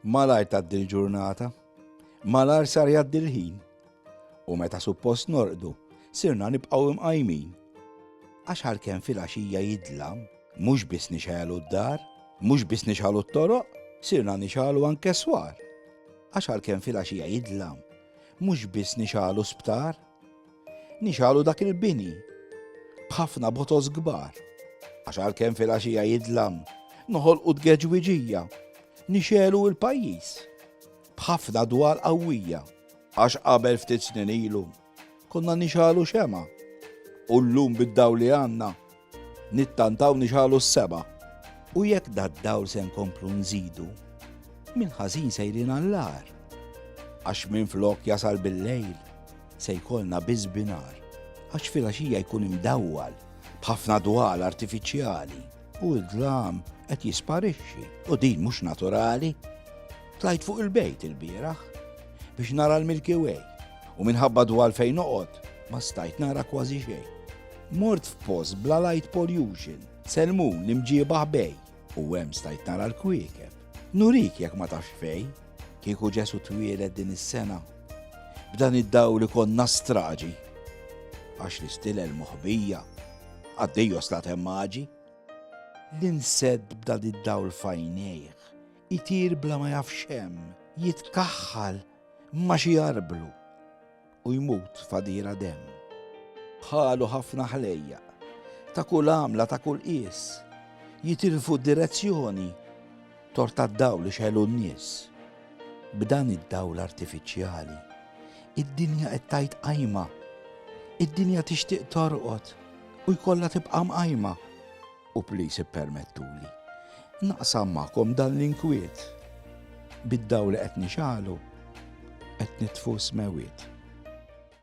Malar taddi l-ġurnata, malar sar jaddi l-ħin, u meta suppost norqdu, sirna nibqaw imqajmin. Għax għalkemm fil-għaxija jidlam, mhux biss nixħelu d-dar, mhux biss nixħelu t-toroq, sirna nixħelu anke swar. Għax għalkemm fil-għaxija jidlam, mhux biss nixħelu sptar, Nixalu dak il-bini b'ħafna botos kbar. Għax għalkemm fil-għaxija jidlam, noħolqu tgeġwiġija, nixelu il-pajjiż b'ħafna dwar qawwija. Għax qabel ftit snin ilu, konna nixalu xema, u llum bid-daw li għandna Nittantaw niġħalu s-sema. U jekk dad-dawl se nkomplu nżidu, mill-ħażin sejrin għall-agħar. Għax minflok jasal bil-lejl, se jkollna biss binhar. Għax filgħaxija jkun imdawwal, b'ħafna dwal artifiċjali. U d-dlam qed jisparixxi, u din mhux naturali. Tlajt fuq il-bejt il-bieraħ biex nara l-Milky Way, u minħabba dwal fejn noqgħod ma stajt nara kważi xejn. Mort f'post bla light pollution. Selmun l-imġieba ħbej. U hemm stajt nara l-kwiekeb. Nurik jekk ma tafx fej. Kieku Ġesu twieled din is-sena. B'dan id-dawl ikollna straġi. Għax l-istilel moħbija. Għad-Dejos la temmaġi. Li nsedd b'dan id-dawl f'għajnejh. Itir bla ma jaf x'hemm. Jitkaħħal ma xi jarblu. u jmut f'għadira demm. Bħalu ħafna ħlejjaq, ta' kull għamla, ta' kull qies, jitilfu d-direzzjoni tort tad-dawl li xegħlu n-nies. B'dan id-dawl artifiċjali, id-dinja qed tgħid qajma. Id-dinja tixtieq torqod u jkollha tibqa' mqajma. U please ippermettuli naqsam magħkom dan l-inkwiet. Bid-dawl li qed nixgħalu qed nitfu s-smewwiet.